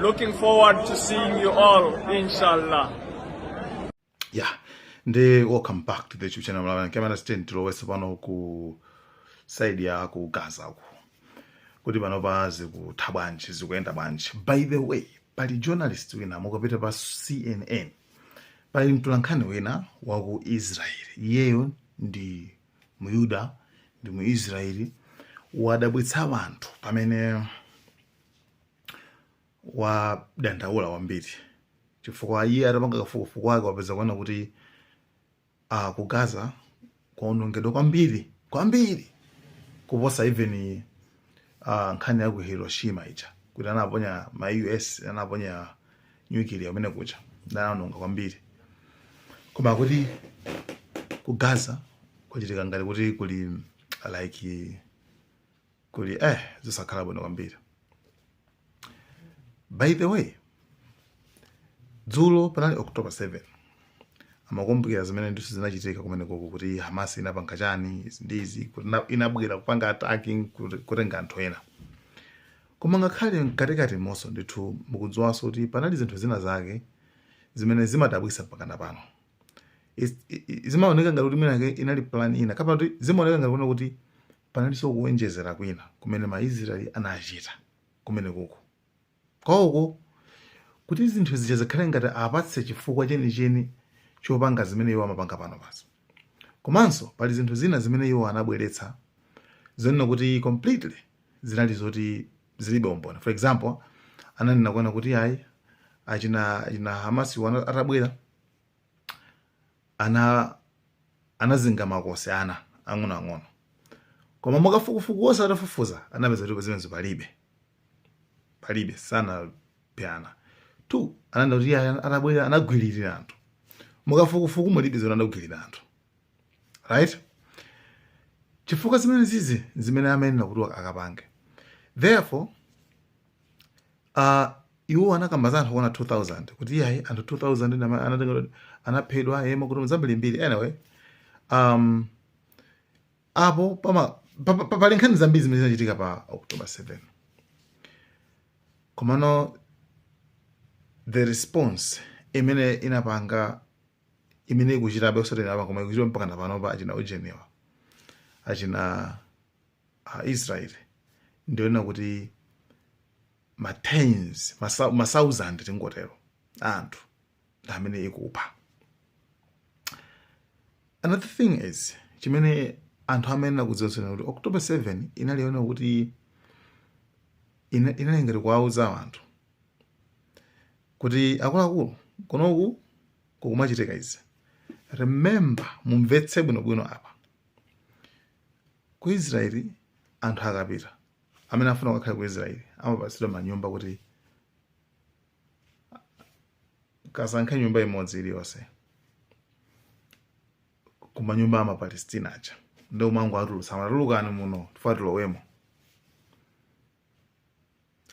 Looking forward to seeing you all, inshallah. Yeah, welcome back to the YouTube channel. Inde ndi October 8 pano ku side ya ku Gaza ku. Kuti pano pa zikutha bwanji zikuyenda bwanji. By the way, pali journalist wina mukapita pa CNN. Pali mtulankhani wina wa ku Israel. Iyeyo ndi Muyuda ndi mu Israel wadabwitsa wanthu pamene wadandaula kwambiri chifukwa iye atapanga kafukufuku wake wapeza kunena kuti uh, ku gaza kwaonongedwa kwambiri kwambiri kuposa even uh, nkhani ya ku hiroshima ija kuti anaponya ma us anaponya nuclear kumene kuja anaononga kwambiri koma kuti ku gaza kwachitika ngati kuti kuli like kuli eh zosakhala bwino kwambiri by the way dzulo panali october 7 amakumbukira zimene ndithu zinachitika kumenekoko kuti hamas inapanga chani izi ndi izi kuti ina- inabwera kupanga attacking kuti- kutenga anthu ena koma ngakhale mkatikati momwemonso ndithu mukudziwanso kuti panali zinthu zina zake zimene zimadabwisa mpakana pano Is- i- i- zimaoneka ngati kuti mwinake inali plan ina kapena kuti zimaoneka ngati kunena kuti panalinso kuonjezera kwina kumene maisraeli anachita kumenekoko kwawoko kuti zinthu zija zikhale ngati apatse chifukwa chenicheni chopanga zimene iwo amapanga panopazo komanso pali zinthu zina zimene iwo anabweretsa zonena kuti completely zinali zoti zilibe umboni for example ananena kunena kuti ayi achina achina hamasi wana- atabwera a- anazinga makosi ana ang'onoang'ono koma makafukufuku onse atafufuza anapeza kuti zimenezo palibe palibe sanaphe ana two ananena kuti iye atabwera anagwiririra anthu mukafukufuku mulibe zoona anagwiririra anthu right chifukwa zimene zi- zimene amanena kuti akapange therefore Uh, iwo anakamba za anthu kunena 2000 kuti iyayi anthu 2000 ndi ama- anatenga anaphedwa yemwe kuti zambirimbiri anyway um, apo pama pa- pa- pa- pali nkhani zambiri zimene zinachitika pa october 7 komano the response imene inapanga imene ikuchitabe osatengera pa koma ikuchita mpakana panopa achina ujenewa achina aisraeli ndi yonena kuti ma tens masa- ma thousand tingotero a anthu ndi amene ikupha another thing is chimene anthu amayenera kudziwanso nchakuti october 7 inali yonena kuti ina- inali ngati kuwauza anthu kuti akuluakulu kunoku kukumachitika izi remember mumvetse bwinobwino apa Ku Israel anthu akapita amene afuna kukakhala ku Israel amapatsidwa manyumba kuti kasankhe nyumba imodzi iliyonse ku manyumba ama Palestina aja nde kumangowatulutsa tatulukani muno tifuna tilowemo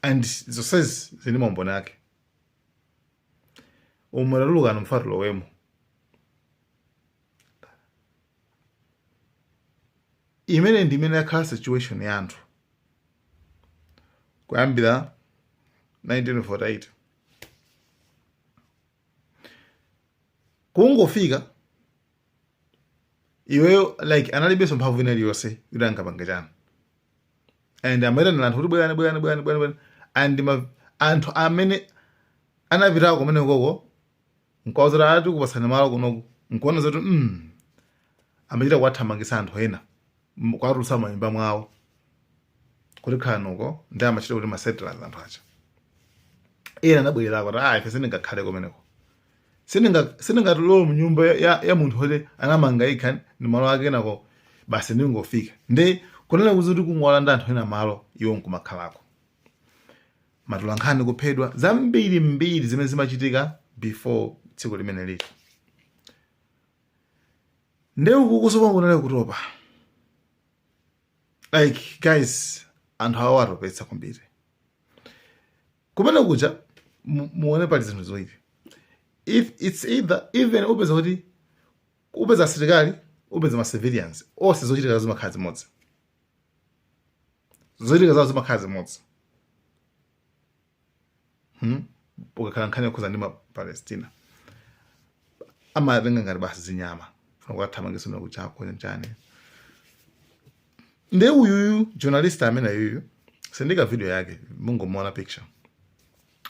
and zonsezi zili ndi maumboni ake umu tatulukani tifuna tilowemo imene ndi imene yakhala situation ya anthu kuyambira 1948 kungofika iweyo like analibenso mphamvu ina iliyonse yoti angapange chani and amayitanira anthu kuti bwerani bwerani bwerani bwerani bwerani and ma, anthu amene anapitako kumene koko nkuwauza kuti ati kupatsani malo kunoku nkuona zoti mm, amachita kuwathamangitsa anthu ena m- kuwatulutsa mmanyumba mwawo kuti khanuko nde amawatcha kuti masettlers anthu aja ena anabwererako ati ah ife sindingakhale kumeneko sindinga- sindingalowe mnyumba ya, ya, ya munthu oti anamanga yekha ndi malo ake enako basi ndingofika ndi kunena kuzi kuti kungolanda anthu ena malo iwo nkumakhalako matolankhani kuphedwa zambiri mbiri zimene zimachitika before tsiku limenelili nde ukukunso pano kunali kutopa like guys anthu awa atopetsa kwambiri kumene kuja mu- muone pali zinthu ziwiri it's either even upeza kuti upeza asilikali upeza ma civilians onse zochitika zimakhala zimodzi zochitika zawo zimakhala zimodzi hmm? ikakhala nkhani yokhudza ndi mapalestina amatenga ngati basi zinyama funa kukathamangisa mna kuchako chani nde uyuyu journalist ameneyuyu sindiika video yake mungomuona picture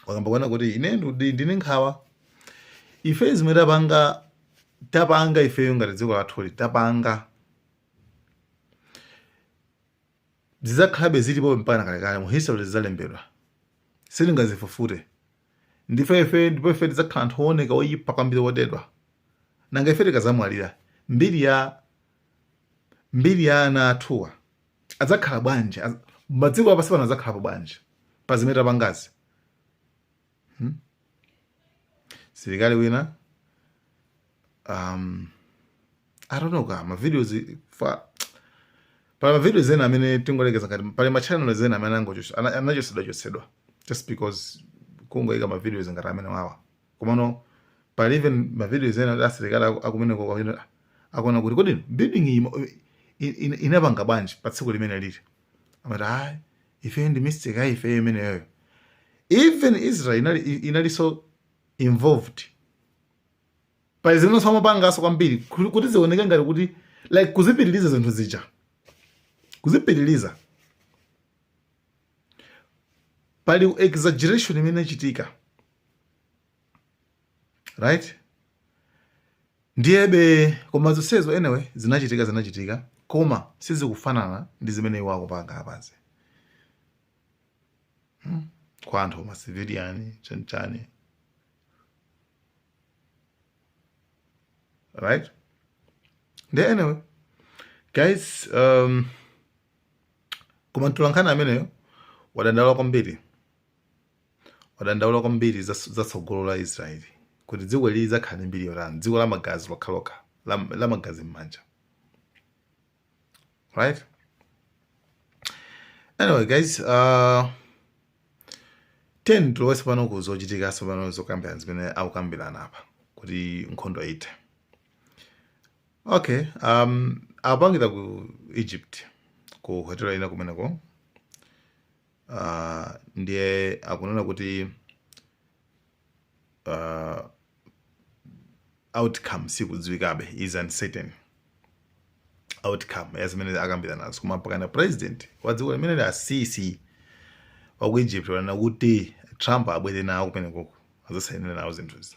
wakamba kunena kuti ine ndili ndi nkhawa ife zimene tapanga tapanga ifeyo ngati dziko lathuli tapanga zidzakhalabe zilipo mpaka kalekale mu history zidzalembedwa sitingazifufute ndife ife ndipo ife tidzakhala anthu owoneka oyipa kwambiri wodedwa nanga ife tikadzamwalira mbiri ya mbiri ya ana athuwa adzakhala bwanji Az- madziko apansi pano adzakhalapo bwanji pa zimene tapangazi hmm? msilikali wina um, i don't know ka mavideos fa pali mavideos ena amene tingolekeza ngati pali machannels ena amene anachotsedwa chotsedwa just because kungoyika mavideos ngati amenewawa komano pali even mavideos ena asilikali akumeneko akuona kuti kodi building inapanga bwanji pa tsiku limenelili amati ayi ifeyo ndi mistake ya ifeyo imeneyoyo even israel inali inalinso involved pali zimenenso amapanganso kwambiri kuti kuti zioneke ngati kuti like kuzipitiriza zinthu zija kuzipitiriza pali exaggeration imene inachitika right ndiyebe koma zonsezo anyway zinachitika zinachitika koma sizikufanana ndi zimene iwo akupanga apazi hmm? kwa anthu macivilian chanichani right nde anyway guys um, koma mtolankhani ameneyo wadandaula kwambiri wadandaula kwambiri za za tsogolo la Israeli kuti dziko ili lidzakhala ndi mbiri yotani, dziko la magazi lokhalokha la, la magazi m'manja. Right? Anyway guys, uh, tiyeni tilowe tsopano ku zochitika tsopano zokambirana zimene akukambirana apa kuti nkhondo ithe. Okay, um, apangira ku Egypt ku hotela ina kumeneko Uh, ndiye akunena kuti uh, outcome sikudziwikabe is uncertain outcome ya zimene akambiranazo koma mpakana president wa dziko limeneli a sisi wa ku egypt wanena kuti trump abwere nawo kumenekoko adzasainire nawo zinthuzi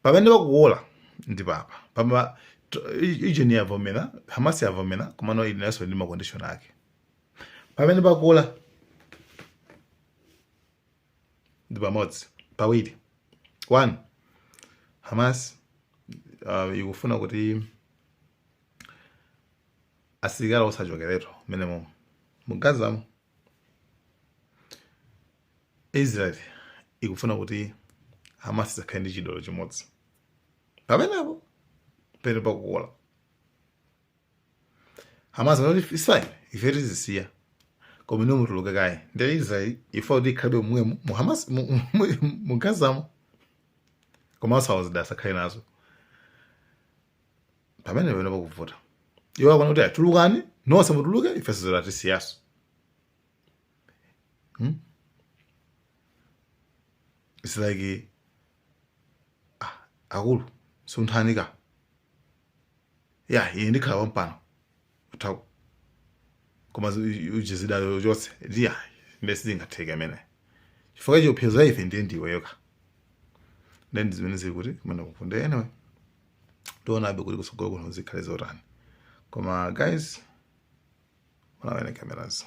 pamene pakuwola ndi apapa israel yavomera hamasi yavomera komano ilinso ndi makondishoni ake pamene pakula ndi pamodzi pawiri one hamas uh, ikufuna kuti asilikali onse achokeretu mmenemomo mu gazamo israel ikufuna kuti hamas isakhale ndi chida olo chimodzi pamenepo pene pakukula Hamas anati it's fine ife tizisiya koma inu mutuluke kaye ndiye israel ifuna kuti ikhalabe mmwemo mu hamas mu- mu- mu- mu gazamo koma osati zida asakhale nazo pamene pamene pakuvuta iwo akana kuti atulukani nonse mutuluke ife zida tisiyanso it's like ah, akulu sunthani kaye ine ndikhala pompano kuthako koma usiye zidazo zonse ndiye sizingatheke amene chifukwa chiopsezo cha ife nde ndiweyo ka ndiye ndi zimene zili kuti kumeneku nde anyway tionabe kuti kutsogolo kuno zikhale zotani koma guys munaona cameras